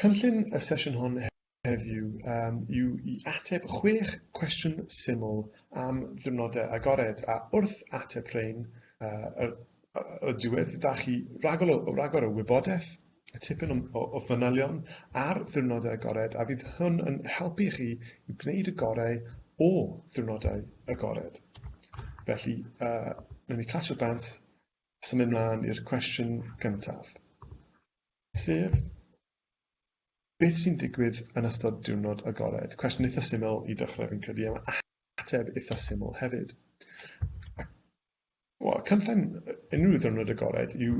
Cynllun y sesiwn hon heddiw um, yw i ateb chwech cwestiwn syml am ddiwrnodau agored, a wrth ateb rhain, uh, y diwedd, da chi ragor o, ragor o wybodaeth y tipyn o, o, o fanylion ar ddiwrnodau agored a fydd hwn yn helpu chi i gwneud y gorau o ddiwrnodau agored. Felly, uh, rydyn ni clasio bant Symud mlaen i'r cwestiwn gyntaf, sef beth sy'n digwydd yn ystod diwrnod agored? Cwestiwn eitha syml i dechrau fi'n credu, am ateb eitha syml hefyd. Wel, cynllun unrhyw ddiwrnod agored yw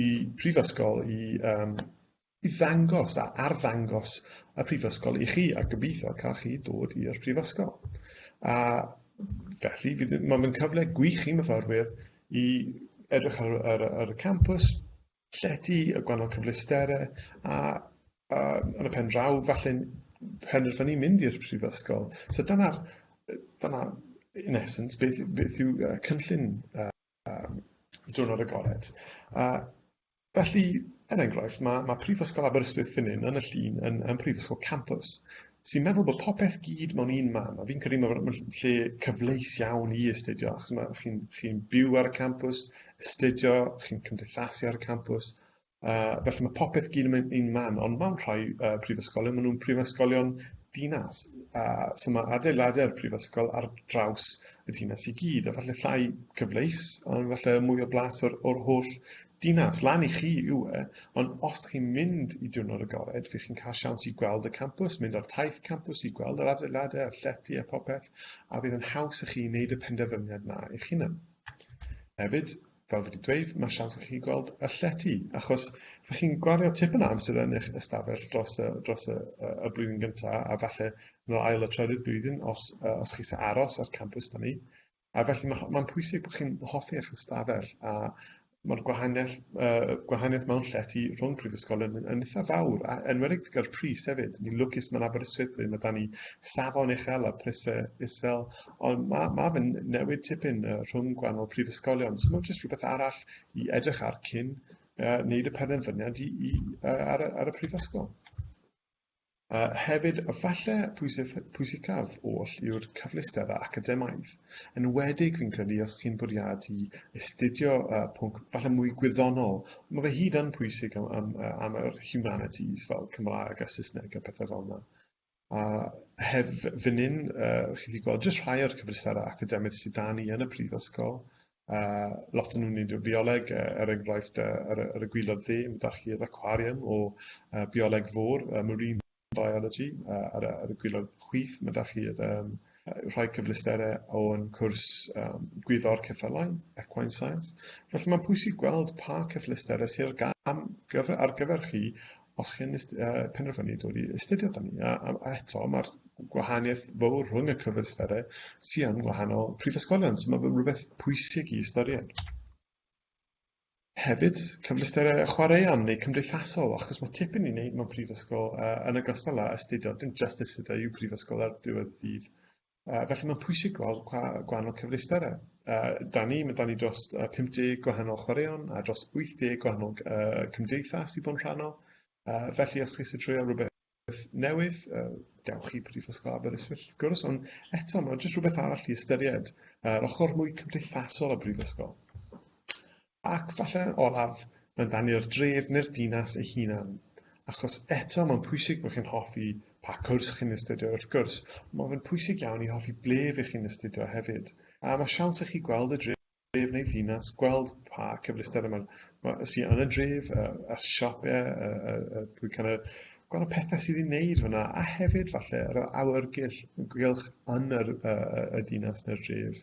i prifysgol i um, i ddangos a arddangos y Prifysgol i chi a gobeithio cael chi dod i'r Prifysgol. A felly, fydd, mae'n cyfle gwych i myfyrwyr i edrych ar, ar, ar y campus, llety, y gwahanol cyfleusterau, a, a yn y pen draw, falle penderfynu mynd i'r Prifysgol. So dyna'r, dyna, in essence, beth, beth yw uh, cynllun uh, um, diwrnod agored. Uh, Felly, er enghraifft, mae, mae Prifysgol Aberystwyth fan hyn, yn y llun, yn, yn Prifysgol Campus, sy'n meddwl bod popeth gyd mewn un man, a fi'n credu mae ma lle cyfleus iawn i astudio, achos mae chi'n chi byw ar y campus, astudio, chi'n cymdeithasu ar y campus, uh, felly mae popeth gyd yn un man, ond mewn rhai uh, prifysgolion, maen nhw'n prifysgolion dinas, uh, so mae adeiladau'r prifysgol ar draws y dinas i gyd, a falle llai cyfleus, ond falle mwy o blas o'r, or holl dinas. Lan i chi yw e, ond os chi'n mynd i diwrnod agored, fe chi'n cael siawns i gweld y campws, mynd ar taith campws i gweld yr adeiladau a'r llety a popeth, a fydd yn haws i chi wneud y penderfyniad na eich hunan. Hefyd, Fel fi 'di dweud, mae siawns i chi gweld y llety, achos fy chi'n gwario tipyn o amser yn eich ystafell dros y, dros y, y blwyddyn gyntaf, a falle yn yr ail y trydydd blwyddyn, os, os chi sy'n aros ar campus da ni. A felly mae'n ma pwysig bod chi'n hoffi eich ystafell a mae'r gwahaniaeth, uh, gwahaniaeth mewn llety rhwng prifysgol yn, yn eitha fawr, a enwedig gyda'r pris hefyd. Ni'n lwcus mae'n Aberystwyth ble mae da ni safon uchel a prisau isel, Ond ma' ma' fe'n newid tipyn yy rhwng gwahanol prifysgolion, so mae'n jyst rhywbeth arall i edrych ar cyn uh, wneud y penderfyniad i, i, uh, ar, y, ar y prifysgol. Uh, hefyd, falle pwysif, pwysicaf oll yw'r cyfleusterau academaidd. Yn wedig, fi'n credu, os chi'n bwriadu astudio uh, pwnc falle mwy gwyddonol, mae fe hyd yn pwysig am, am, am yr humanities fel Cymraeg a Saesneg a pethau fel yna. A heb fyn 'yn, yy chi 'di gweld jyst rhai o'r cyfleusterau academaidd sy 'da ni yn y prifysgol, a lot o nhw'n un bioleg, yy er enghraifft yy ar y ar y gwilod dde, ma' 'da chi'r acwariwm o yy bioleg fôr, yy marine biology, a ar y ar y gwilod chwith ma' 'da chi'r yym yy rhai cyfleusterau o'n cwrs yym gwyddor ceffylau, equine science. Felly mae'n pwysig gweld pa cyfleusterau sy ar gam gyfer ar gyfer chi os chi'n uh, penderfynu dod i astudio da ni. A, a, a eto, mae'r gwahaniaeth fawr rhwng y cyfystyrdau sy'n yn gwahanol prifysgolion, so mae fe rhywbeth pwysig i ystyried. Hefyd, cyfleusterau chwaraeon neu cymdeithasol, achos mae tipyn i wneud mewn prifysgol uh, yn y gostal â astudio, dim just astudio yw prifysgol ar diwedd dydd. Uh, felly mae'n pwysig gweld gwa gwahanol cyfleusterau. Uh, da ni, mae da ni dros uh, 50 gwahanol chwaraeon a dros 80 gwahanol uh, cymdeithas i bod yn rhannol. Uh, felly os chi'n treulio rhywbeth newydd, uh, dewch i Prifysgol Aberystwyth wrth gwrs, ond eto mae'n jyst rhywbeth arall i ystyried, uh, yr ochr mwy cymdeithasol o Brifysgol. Ac falle yn olaf, mae'n dan i'r dref neu'r dinas ei hunan. Achos eto, mae'n pwysig bod chi'n hoffi pa cwrs chi'n astudio wrth gwrs, ond mae fe'n pwysig iawn i hoffi ble fy chi'n astudio hefyd. A mae siawns i chi gweld y dref neu ddinas, gweld pa cyfleusterau mae'n ma, sy yn y dref, y, y siopau, y, y, y, y, kind of, gweld y pethau sydd i wneud fyna, a hefyd falle yr awyrgylch yn yr, y, y, y dinas neu'r dref.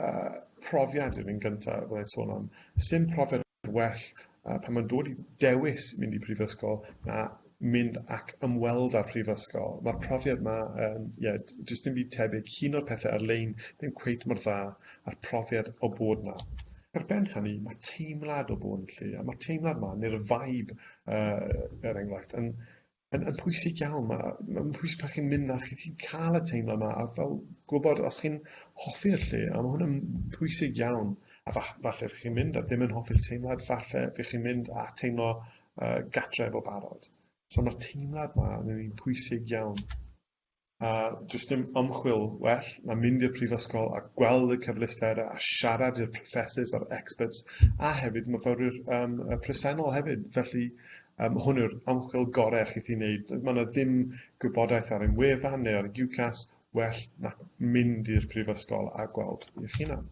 uh, profiad yn un gyntaf, fyddai'n sôn am, sy'n profiad well uh, pan mae'n dod i dewis mynd i prifysgol na mynd ac ymweld â'r prifysgol. Mae'r profiad yma, um, yeah, jyst dim byd tebyg, hun o'r pethau ar-lein ddim cweit mor dda a'r profiad o bod yna. Ar ben hynny, mae teimlad o bod yn lle, a mae'r teimlad yma, neu'r vibe, uh, er enghraifft, yn yn, yn pwysig iawn. Mae'n ma pwysig pan chi'n mynd na chi, chi'n cael y teimlo yma a fel gwybod os chi'n hoffi'r lle, a mae hwnna'n pwysig iawn. A fa, falle fych chi'n mynd a ddim yn hoffi'r teimlad, falle fych chi'n mynd a teimlo uh, gatref o barod. So mae'r teimlad yma yn un pwysig iawn. A does dim ymchwil well na mynd i'r prifysgol a gweld y cyfleusterau a siarad i'r professors a'r experts a hefyd myfyrwyr um, presennol hefyd. Felly um, hwn yw'r ymchwil gorau chi'n ei wneud. Mae yna ddim gwybodaeth ar ein wefan neu ar UCAS well na mynd i'r prifysgol a gweld eich hunan.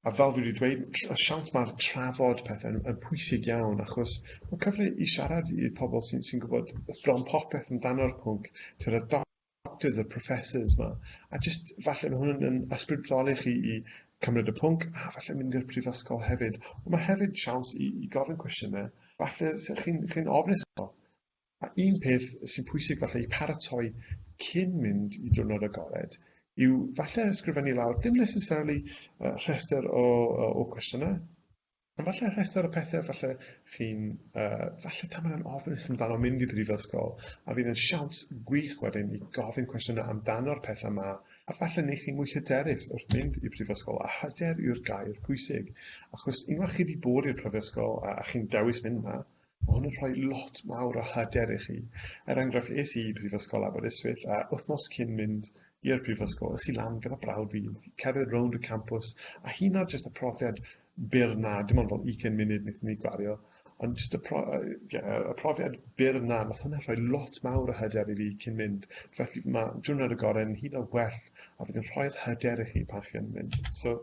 A fel dwi 'di dweud tr- y siawns ma'r trafod pethe yn yn pwysig iawn achos ma'n cyfle i siarad i i'r pobol sy'n sy'n gwbod bron popeth amdano'r pwnc t'od y doc- doctors y professors 'ma a jyst falle ma' hwn yn ysbrydoli chi i cymryd y pwnc a falle mynd i'r prifysgol hefyd on' ma' hefyd siawns i i gofyn cwestiyne falle se chi'n chi'n ofnus o. A un peth sy'n pwysig falle i paratoi cyn mynd i diwrnod agored yw falle ysgrifennu lawr, dim necessarily uh, rhestr o, o, o cwestiynau, ond falle rhestr o pethau falle chi'n, uh, falle tam yn ofnus amdano mynd i brifysgol, a fydd yn siawns gwych wedyn i gofyn cwestiynau amdano'r pethau yma, a falle neu chi mwy hyderus wrth mynd i brifysgol, a hyder yw'r gair pwysig, achos unwaith chi wedi bod i'r prifysgol a, a chi'n dewis mynd yna, Mae hwn yn rhoi lot mawr o hyder i chi. Er enghraifft, es i i Brifysgol Aberystwyth a wythnos cyn mynd i'r prifysgol, es i lan gyda brawd fi, cerdded rownd y campws, a hyn ar jyst y profiad byr na, dim ond fel 20 munud wnaethon ni gwario, ond jyst y, pro, y profiad byr na, nath hwnna rhoi lot mawr o hyder i fi cyn mynd. Felly mae diwrnod y gorau'n hyd o well, a fydd yn rhoi'r hyder i chi pan chi'n mynd. So,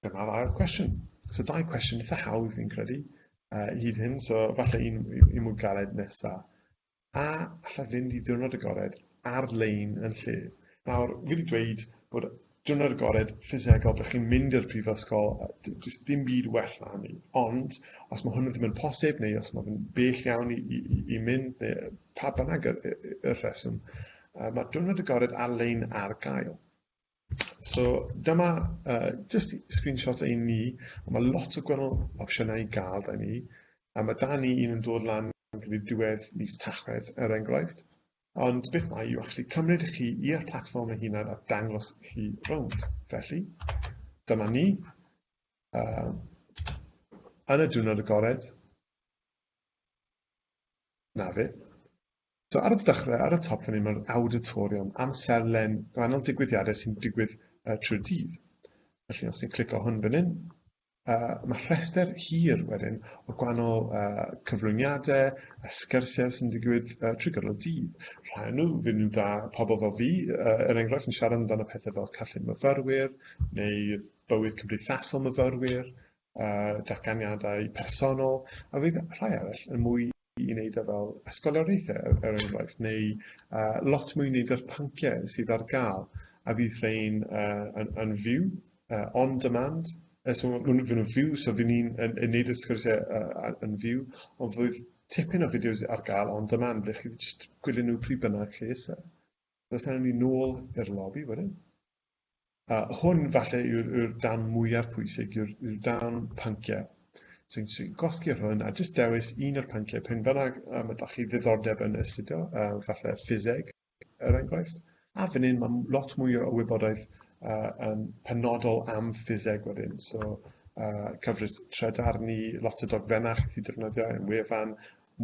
Dyma'r ail cwestiwn. So dau cwestiwn eitha hawdd fi'n credu uh, hyd hyn, so falle un, un mwy galed nesa. A allai fynd i ddiwrnod agored ar-lein yn lle? Nawr, fi wedi dweud bod diwrnod agored ffisegol, byddwch chi'n mynd i'r prifysgol, jyst dim byd well na hynny. Ond, os mae hwnna ddim yn posib, neu os mae fe'n bell iawn i, i, i, i mynd, neu pa bynnag y, y, y rheswm, uh, mae diwrnod agored ar-lein ar gael. So dyma uh, just screenshot ein ni, a mae lot o gwahanol opsiynau i gael da ni. A mae da ni un yn dod lan gyda diwedd mis tachwedd er enghraifft. Ond beth mae yw actually cymryd chi i'r platform ei hunan a dangos chi rownd. Felly, dyma ni. Uh, yn y diwrnod agored, na fe, So ar y dechrau, ar y top fan hyn, mae'r auditorium, amserlen gwahanol digwyddiadau sy'n digwydd uh, trwy'r dydd. Felly os ni'n clicio hwn fan hyn, uh, mae rhestr hir wedyn o gwahanol uh, cyflwyniadau a sgyrsiau sy'n digwydd uh, trwy gydol y dydd. Rhai nhw fydd nhw'n dda pobl fel fi, uh, er enghraifft yn siarad amdano pethau fel callun myfyrwyr neu bywyd cymdeithasol myfyrwyr, uh, datganiadau personol, a fydd rhai arall yn mwy i wneud â fel ysgoloriaethau, er, er enghraifft, neu uh, lot mwy wneud â'r pynciau sydd ar gael, a fydd rhain uh, yn, yn fyw, uh, on demand, uh, so maen nhw'n fyw, so fydd ni'n yn, yn neud y sgwrsiau uh, yn fyw, ond fydd tipyn o fideos ar gael on demand, ble chi wedi just gwylio nhw pryd bynnag chi eisiau. Does angen ni nôl i'r lobby wedyn. A hwn falle yw'r yw dan mwyaf pwysig, yw'r yw dan panciau. So ni'n so gosgi ar hwn a jyst dewis un o'r panciau pen bynnag a mae da chi ddiddordeb yn astudio, uh, falle ffiseg er enghraifft. A fan hyn mae lot mwy o wybodaeth uh, um, penodol am ffiseg wedyn. So uh, cyfres tredarn ni, lot o dogfennau chi defnyddio yn wefan,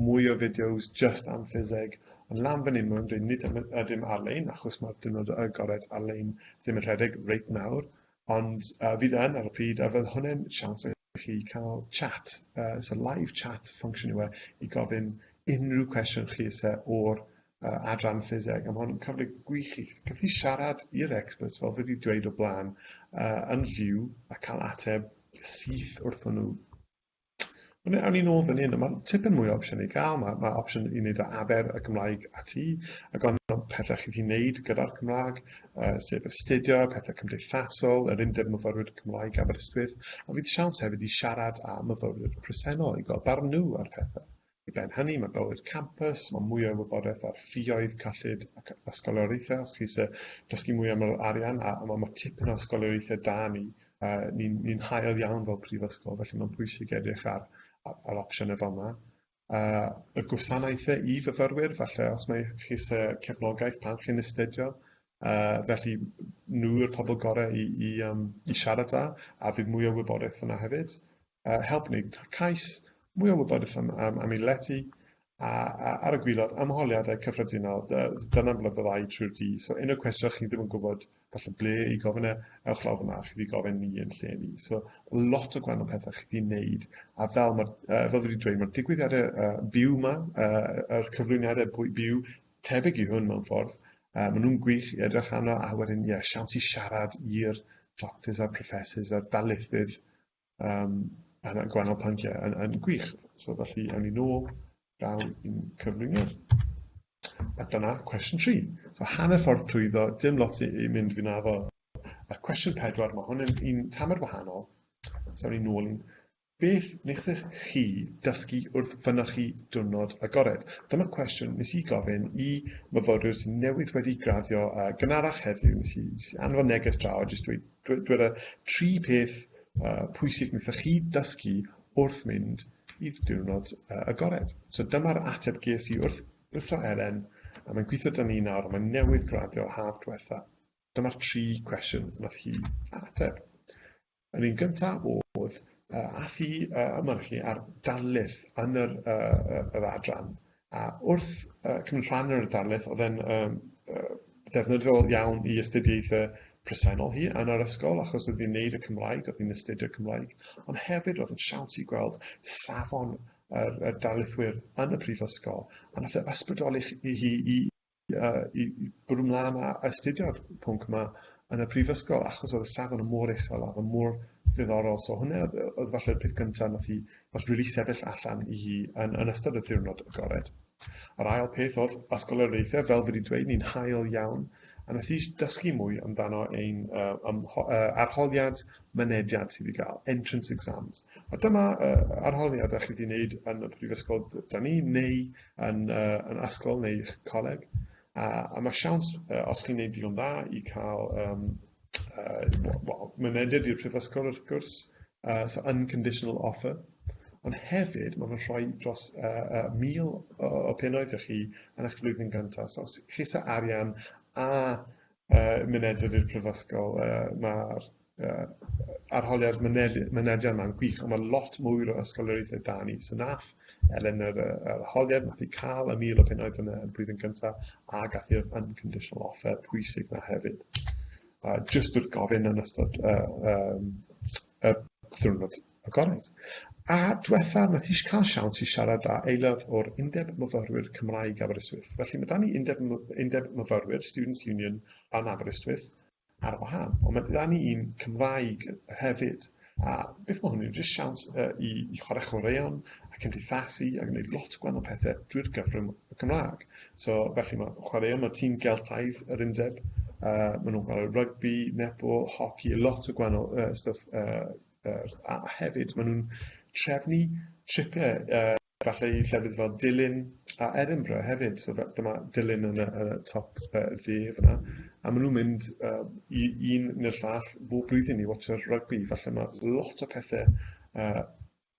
mwy o fideos just am ffiseg, ond lan fan hyn maen nhw'n dweud nid ym- ydym ar-lein, achos mae'r diwrnod y agored ar-lein ddim yn rhedeg reit nawr, ond uh, fydd yn ar y pryd, a fydd hwnna'n siawns i chi cael chat, uh, so live chat function yw e, i gofyn unrhyw cwestiwn chi eisiau o'r uh, adran ffiseg, a mae hwn yn cyfle gwych i chi siarad i'r experts fel fi wedi dweud o blaen uh, yn fyw a cael ateb syth wrthyn nhw. Ond awn ni nôl fan hyn, a mae'n tipyn mwy o opsiwn i gael. Mae, mae opsiwn i wneud o aber y Gymraeg a ti, a gan pethau chi wedi wneud gyda'r Cymraeg, uh, sef astudio, pethau cymdeithasol, yr undeb myfyrwyr Cymraeg Aberystwyth, a fydd siawns hefyd i siarad â myfyrwyr presennol i gael barn nhw ar pethau. I ben hynny, mae bywyd campus, mae mwy o wybodaeth ar ffioedd, cyllid ac ysgolioriaethau os chi eisiau dysgu mwy am yr arian a, a mae, mae tipyn o ysgolioriaethau da ni, uh, ni'n ni hael iawn fel prifysgol, felly mae'n pwysig edrych ar, ar, ar opsiynau fel yma uh, y gwasanaethau i fyfyrwyr, falle os mae chi eisiau cefnogaeth pan chi'n astudio, uh, felly nhw yw'r pobl gorau i, i, um, i siarad â, a bydd mwy o wybodaeth fyna hefyd. uh, help wneud cais, mwy o wybodaeth am, am, am ei lety, a, a ar y gwylod ymholiadau cyffredinol, dyna'n flyfyddau trwy'r di. So un o'r cwestiwn chi ddim yn gwybod falle ble i gofyn e, ewch lawr fyna, chi wedi gofyn ni yn lle ni. So lot o gwahanol pethau chi wedi wneud, a fel, ma, uh, fel wedi dweud, mae'r digwyddiadau uh, byw yma, uh, yr cyflwyniadau byw tebyg i hwn mewn ffordd, uh, maen nhw'n gwych i edrych arno, a wedyn, ie, yeah, siawns i siarad i'r doctors a'r professors a'r darlithydd um, a gwahanol pynciau yn, yn gwych. So felly, awn ni nôl daw i'n cyflwyniad. A dyna cwestiwn 3. So hanner ffordd trwyddo, dim lot i, i mynd fi'n afo. A cwestiwn 4, mae hwn yn un tamer wahanol. So awn ni nôl i'n Beth wnaethoch chi dysgu wrth fynychu diwrnod agored? Dyma cwestiwn nes i gofyn i myfyrwyr sy'n newydd wedi graddio a gynharach heddiw, nes i, nes i anfon neges draw a jyst dweud, Dyweda'r tri peth uh, pwysig wnaethoch chi dysgu wrth mynd i diwrnod uh, agored. So dyma'r ateb ges i wrth, wrth o Elen, a mae'n gweithio dan ni nawr, mae'n newydd graddio haf diwetha. Dyma'r tri cwestiwn wnaeth hi ateb. Yr un gyntaf oedd, uh, ath hi uh, yma chi ar darlith yn yr, uh, yr adran, A wrth uh, cymryd rhan yn yr darlith, oedd e'n um, uh, defnyddiol iawn i astudiaethau presennol hi yn yr ysgol, achos oedd hi'n neud y Cymraeg, oedd hi'n astudio Cymraeg, ond hefyd oedd yn siawt i gweld safon yr, yr darlithwyr yn y prifysgol, a nath e ysbrydoli i hi i uh, i, i bwrw mlaen a astudio'r pwnc yma yn y prifysgol, achos oedd y safon yn mor uchel a oedd mor ddiddorol. So hwnna oedd, oedd falle'r peth gyntaf nath i nath rili really sefyll allan i hi yn, yn ystod y ddiwrnod agored. Yr ail peth oedd ysgoloriaethau, fel wedi dweud, ni'n hael iawn, a nath i dysgu mwy amdano ein uh, um, uh, arholiad mynediad sydd i gael, entrance exams. A dyma uh, arholiad a chi wedi wneud yn y prifysgol da ni, neu yn, uh, yn ysgol neu eich coleg. Uh, a mae siawns, uh, os chi'n gwneud digon dda, i cael um, uh, well, mynediad i'r prifysgol wrth gwrs, uh, so unconditional offer. Ond hefyd, mae'n fy rhoi dros uh, uh, mil o, o pennoedd i chi yn eich flwyddyn gyntaf. So, chi sa arian a uh, mynediad i'r prifysgol, uh, mae'r uh, arholiad mynediad yma'n gwych, ond mae lot mwy o ysgoloriaethau da ni. So nath Elen yr, yr arholiad, nath i cael y mil o pennaeth yn y blwyddyn cyntaf, a gath i'r unconditional offer pwysig na hefyd. Uh, just wrth gofyn yn ystod uh, um, y ddiwrnod agored. A diwetha, mae ti cael siawns i siarad â aelod o'r Undeb Myfyrwyr Cymraeg Aberystwyth. Felly mae da ni Undeb, Undeb Myfyrwyr, Students Union, yn Aberystwyth, ar wahân, ond mae gyda ni un Cymraeg hefyd, a beth mae hwnnw'n jyst siawns uh, i, i chwarae chwaraeon a cymdeithasu a gwneud lot o gwahanol pethau drwy'r gyfrwng y Cymraeg. So, felly mae chwaraeon, mae tîm Geltaidd yr undeb, uh, maen nhw'n chwarae rygbi, netball, hoci, lot o gwahanol uh, stuff, uh, uh, a hefyd maen nhw'n trefnu tripiau uh, Gallai llefydd fel Dulyn a Edinburgh hefyd, so dyma Dulyn yn y, yn y top uh, dde fyna, a maen nhw'n mynd uh, i un neu'r llall bob blwyddyn i watcher rygbi, falle mae lot o pethau uh,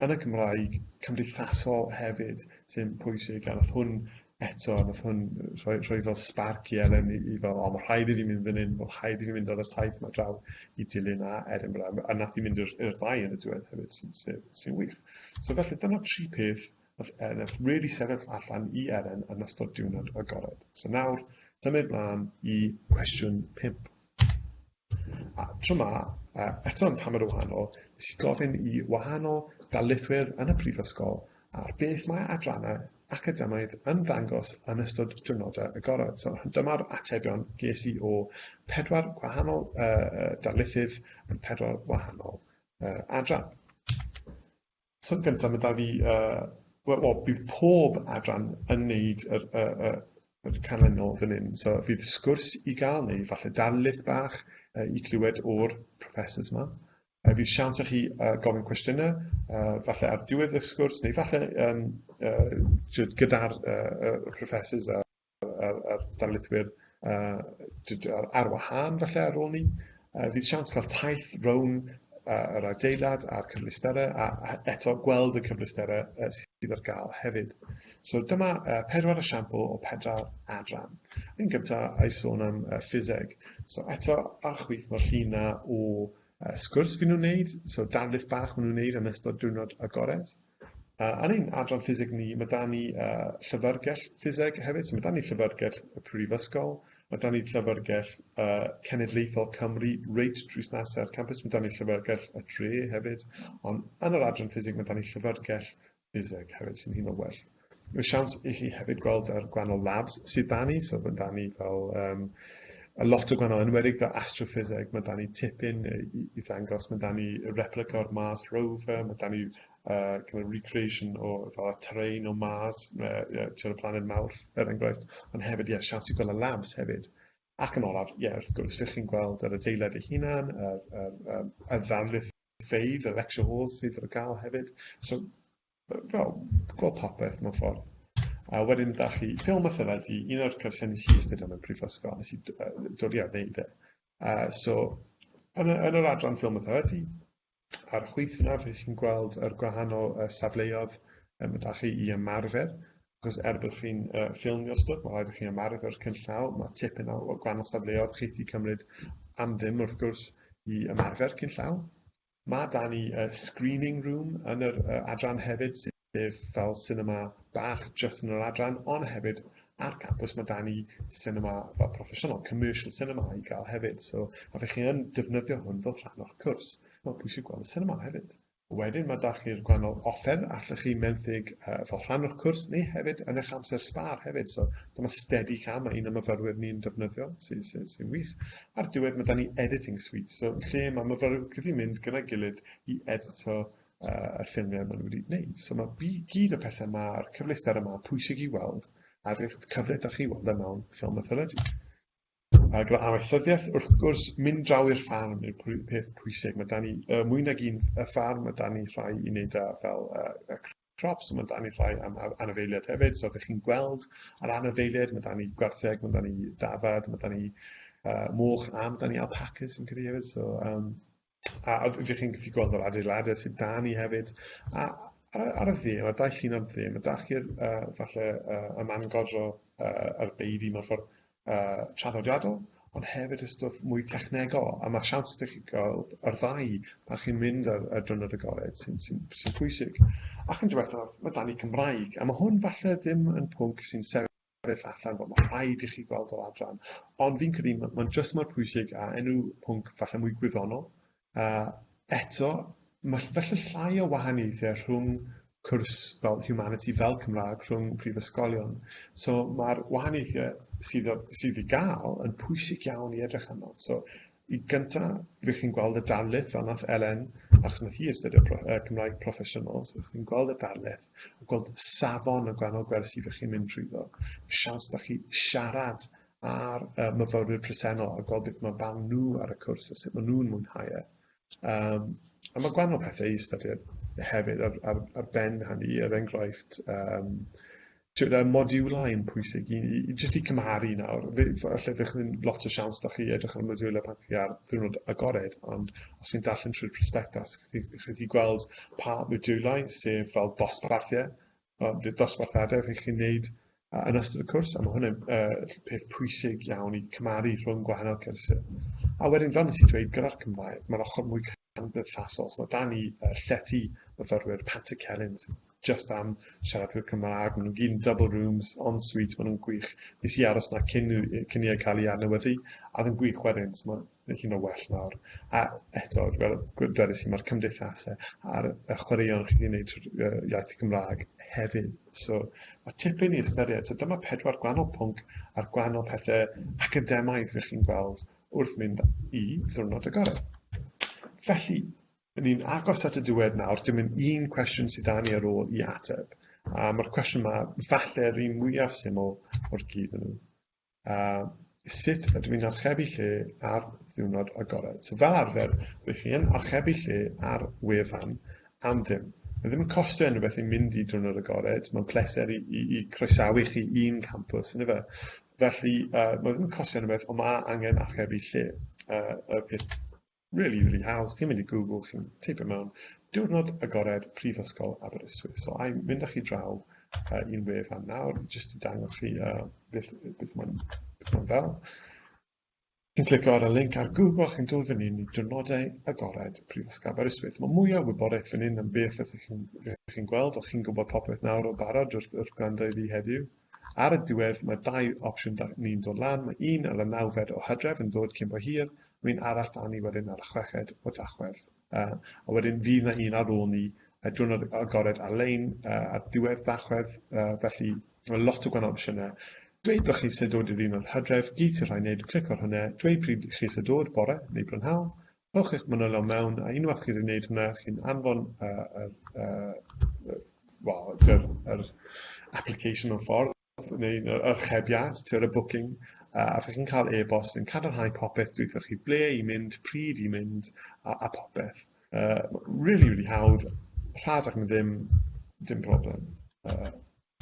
yn y Cymraeg cymdeithasol hefyd sy'n pwysig, a nath hwn eto, nath hwn rhoi, rhoi fel sparc i Elen i, i fel, o, mae rhaid i fi mynd fan hyn, mae rhaid i fi mynd ar y taith mae draw i dilyn a Edinburgh, a nath i mynd i'r ddau yn y diwedd hefyd, sy'n sy, sy wych. So felly, dyna tri peth nath, e, nath really sefyll allan i Elen yn ystod diwrnod agored. So nawr, symud mlaen i cwestiwn 5. A tro 'ma, a eto yn tamed o wahanol, nes i gofyn i wahanol darlithwyr yn y Brifysgol ar beth mae adrannau academaidd yn ddangos yn ystod diwrnodau agored. So, dyma'r atebion ges i o pedwar gwahanol uh, darlithydd yn pedwar gwahanol uh, adran. Cwestiwn gyntaf ma' da fi yy wel bydd pob adran yn neud yr y y yr canlynol fan hyn so fydd sgwrs i ga'l neu falle darlith bach yy i clywed o'r professors ma. Yy fydd siawns i chi yy gofyn cwestiyne yy falle ar diwedd y sgwrs neu falle yym yy jyst gyda'r yy y professors a a'r, a'r darlithwyr uh, ar wahân falle ar ôl ni. Uh, fydd siawns cael taith rown uh, yr adeilad a'r cyfleusterau a, a eto gweld y cyfleusterau uh, sydd ar gael hefyd. So dyma uh, pedwar esiampl o pedwar adran. Yn gyntaf, a'i sôn am uh, ffiseg. So eto, ar chwyth mae'r llun na o uh, sgwrs fy nhw'n wneud, so darlith bach maen nhw'n wneud yn ystod diwrnod agored. Uh, Uh, yn ein adran ffiseg ni, mae dan ni uh, llyfrgell ffiseg hefyd, so mae dan ni llyfrgell y prifysgol, mae dan ni llyfrgell uh, cenedlaethol Cymru, reit drwy nase'r campus, mae dan ni llyfrgell y dre hefyd, ond yn yr adran ffiseg mae dan ni llyfrgell ffiseg hefyd sy'n hyn o well. Mae siawns i chi hefyd gweld ar gwahanol labs sydd da ni, so mae da ni fel um, a lot o gwahanol enwedig fel astroffiseg, mae da ni tipyn i, i ddangos, mae da ni replica o'r Mars rover, mae da ni uh, kind of recreation o fel y terrain o Mars, uh, yeah, y planed Mawrth, er enghraifft, ond hefyd, ie, yeah, siawns i gweld y labs hefyd. Ac yn olaf, ie, yeah, wrth gwrs, lle chi'n gweld yr adeilad ei hunan, y, y, y, y ddarlithfeidd, y lecture halls sydd ar gael hefyd. So, fel gweld popeth mewn ffordd. A wedyn da chi ffilm a thyled i un o'r cyrsiau nes i ystyried am y prifysgol, nes i dod i arneud e. A so, yn, y, yn yr adran ffilm a thyledi, a'r chwyth yna, fe chi'n gweld yr gwahanol uh, safleoedd um, da chi i ymarfer, achos er bod chi'n uh, ffilmio'r stwff, mae rhaid i chi ymarfer'r cynllaw, mae tipyn o gwahanol safleoedd chi wedi cymryd am ddim wrth gwrs i ymarfer cynllaw. Mae da ni y screening room yn yr uh, adran hefyd, sef fel cinema bach just yn yr adran, ond hefyd ar campus mae da ni cinema fel proffesiynol, commercial cinema i gael hefyd. So, a fe chi yn defnyddio hwn fel rhan o'r cwrs, mae'n pwysig gweld y cinema hefyd. Wedyn mae da chi'r gwannol offer allwch chi menthyg uh, fel rhan o'r cwrs neu hefyd yn eich amser sbar hefyd. So dyma steady cam mae un o myfyrwyr ni'n defnyddio sy'n sy, sy, sy wych. Ar diwedd mae 'da ni editing suite, so lle mae myfyrwyr yn gallu mynd gyda'i gilydd i edito uh, y ffilmiau maen nhw wedi gwneud. So mae bu gyd o pethau yma, a'r cyfleusder yma, pwysig i weld, a rydych cyfle da chi weld yma e mewn ffilm mythology. A gyda amaethyddiaeth, wrth gwrs, mynd draw i'r ffarm yw'r peth pwysig. Mae da ni uh, mwy nag un y ffarm, mae da ni rhai i wneud â fel uh, props, mae dan ni rhai am anifeiliaid hefyd, so ydych chi'n gweld yr anifeiliaid, mae dan ni gwartheg, mae dan ni dafad, mae dan ni uh, moch a mae dan ni alpacas fi'n credu hefyd, so um, a ydych chi'n gallu gweld yr adeiladau sydd dan ni hefyd, a ar, ar y dde, mae'r dau llun ar y dde, mae dach chi'r uh, falle uh, y man godro uh, a'r beidi mewn ffordd, uh, traddodiadol, ond hefyd y stwff mwy technegol, a mae siawns ydych chi gweld yr ddau pan chi'n mynd ar, ar drynod y gored sy'n sy sy pwysig. Ac yn diwethaf, mae dan i Cymraeg, a mae hwn falle ddim yn pwnc sy'n sefyll allan bod mae rhaid i chi gweld yr adran, ond fi'n credu mae'n ma jyst mor pwysig a enw pwnc falle mwy gwyddonol, A eto, mae felly llai o wahaniaethau rhwng cwrs fel Humanity fel Cymraeg rhwng prifysgolion. So mae'r wahaniaethau sydd, o, sydd i gael yn pwysig iawn i edrych arno. So i gynta, rydych chi'n gweld y darlith fel nath Elen, achos nath hi astudio pro, uh, Cymraeg proffesiynol, so rydych chi'n gweld y darlith, a gweld safon y gwahanol gwersi rydych chi'n mynd trwyddo, y siawns da chi siarad ar y myfyrwyr presennol a gweld beth mae barn nhw ar y cwrs a sut maen nhw'n mwynhau e. Um, a mae gwahanol pethau i ystyried hefyd ar, ar, ar ben hynny, er enghraifft, um, tywed, y modiwlau yn pwysig i, i, jyst i cymharu nawr. Felly, fe chi'n lot o siawns da chi edrych ar y modiwlau pan chi ar ddiwrnod agored, ond os chi'n darllen trwy'r prospectus, chi, chi gweld pa modiwlau, sef fel dosbarthiau, Wel, bydd dosbarth adeg rhaid chi wneud yn ystod y cwrs, a mae hwnna'n uh, peth pwysig iawn i cymaru rhwng gwahanol cyrsiau. A wedyn, fel nes i dweud, gyda'r Cymraeg, mae'r ochr mwy cymdeithasol. So, mae dan ni uh, llety myfyrwyr Pantycelyn, just am siaradwyr Cymraeg. Maen nhw'n gyn double rooms, on suite, maen nhw'n gwych. Nes i aros na cyn, cyn i ei cael ei adnewyddu, a ddim gwych wedyn. So, mae hyn o well nawr. A eto, fel dwedais i, mae'r cymdeithasau a'r y chwaraeon chi wedi gwneud trwy'r iaith Gymraeg hefyd. So mae tipyn i ystyried. So dyma pedwar gwahanol pwnc a'r gwahanol pethau academaidd rydych chi'n gweld wrth mynd i ddwrnod agored. Felly, ni'n agos at y diwedd nawr, dim yn un cwestiwn sydd dan ni ar ôl i ateb. A mae'r cwestiwn yma, falle yr un mwyaf syml o'r gyd yn nhw. a sut ydw i'n archebu lle ar ddiwrnod agored. So fel arfer, rydych chi yn archebu lle ar wefan am ddim. Mae ddim yn costio unrhyw beth i mynd i diwrnod agored, mae'n pleser i, i, i croesawu chi i'n campus, yn efe. Felly, uh, mae ddim yn costio unrhyw beth, ond mae angen archebu lle. Uh, y peth Rili, rili hawdd, chi'n mynd i Google, chi'n teipio mewn diwrnod agored Prifysgol Aberystwyth. So, a i'n mynd â chi draw uh, i'n wef am nawr, jyst i dangos chi uh, beth, beth mae'n ma fel. Chi'n clicio ar y link ar Google, chi'n dod fan hyn i diwrnodau agored Prifysgol Aberystwyth. Mae mwy o wybodaeth fan hyn am beth ydych chi'n chi gweld, o chi'n gwybod popeth nawr o barod wrth, wrth gwrando i fi heddiw. Ar y diwedd, mae dau opsiwn 'da ni'n dod lan, mae un ar y nawfed o Hydref yn dod cyn bo hir, mae un arall 'da ni wedyn ar y chweched o Dachwedd. Uh, a wedyn fydd na un ar ôl ni uh, diwrnod agored ar-lein uh, ar diwedd Dachwedd, uh, felly mae lot o gwahanol opsiynau. Dweud bod chi sy'n dod i'r un o'r hydref, gyd sy'n rhaid wneud yw clic ar hwnna, dweud pryd chi sy'n dod, bore neu brynhawn, rhowch eich manylion mewn, a unwaith chi wedi gwneud hwnna, chi'n anfon uh, uh, uh, well, yr, yr application mewn ffordd, neu'r archebiad, tiwr y booking, uh, a chi'n cael e-bost yn cadarnhau popeth dwi'n chi ble i mynd, pryd i mynd, a, a popeth. Uh, really, really hawdd, rhad ac yn ddim, dim problem. Uh,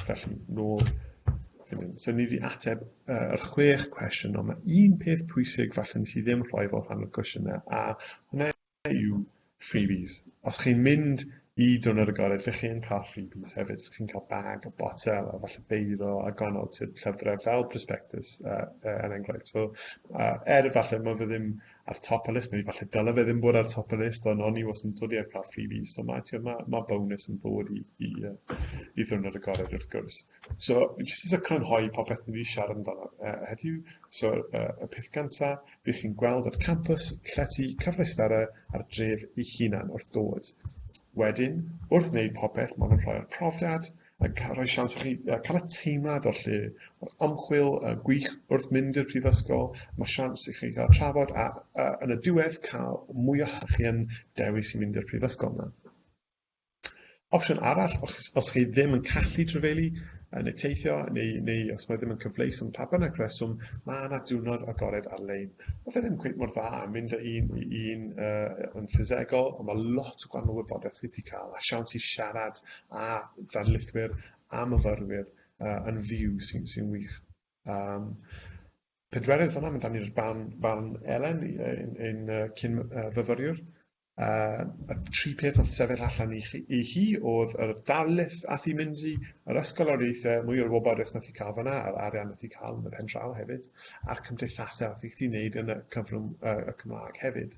Felly, nôl, ddim yn syni fi ateb uh, yr chwech cwestiwn, ond mae un peth pwysig falle nes i ddim rhoi fel rhan o'r cwestiynau, a hwnna yw freebies. Os chi'n mynd i dwrnod y gored, fe chi'n cael freebies hefyd. Fe chi'n cael bag a botel a falle beiddo a gwahanol typ llyfrau fel prospectus uh, uh, yn enghraifft. So, uh, er falle mae fe ddim ar top y list, neu falle dyle fe ddim bod ar top y list, ond o'n i was yn dod i ar cael freebies, so mae, tio, mae, mae bonus yn ddod i, i, i ddwrnod y gorau wrth gwrs. So, jyst eisiau crynhoi popeth ni wedi siarad amdano uh, heddiw, so uh, y peth gynta, bydd chi'n gweld yr campus llety cyfleusterau a'r dref ei hunan wrth dod. Wedyn, wrth wneud popeth, maen nhw'n rhoi'r profiad, a cael rhoi siawns i chi cael y teimlad o'r lle, o'r ymchwil y gwych wrth mynd i'r prifysgol, mae siawns i chi gael trafod a, a yn y diwedd cael mwy o chi yn dewis i mynd i'r prifysgol yna. Opsiwn arall, os, os chi ddim yn callu trefelu yn y teithio, neu, neu os mae ddim yn cyfleus yn pa bynnag reswm, mae yna diwrnod agored ar-lein. Mae fe ddim cweith mor dda yn mynd â un i un uh, yn ffisegol, ond mae lot o gwahanol wybodaeth chi wedi cael a siawns i siarad a darlithwyr a myfyrwyr uh, yn fyw sy'n sy wych. Um, pedwerydd fanna, mynd ni'r barn, barn Elen yn, yn uh, cyn uh, fyfyriwr. Uh, y tri peth oedd sefyll allan i, chi, i hi oedd yr darlith a thi mynd i yr ysgol o'r eithau, mwy o'r wybodaeth nath i cael fanna, a'r arian nath i cael yn y pen draw hefyd, a'r cymdeithasau nath i thi wneud yn y cyfrwng uh, y Cymraeg hefyd.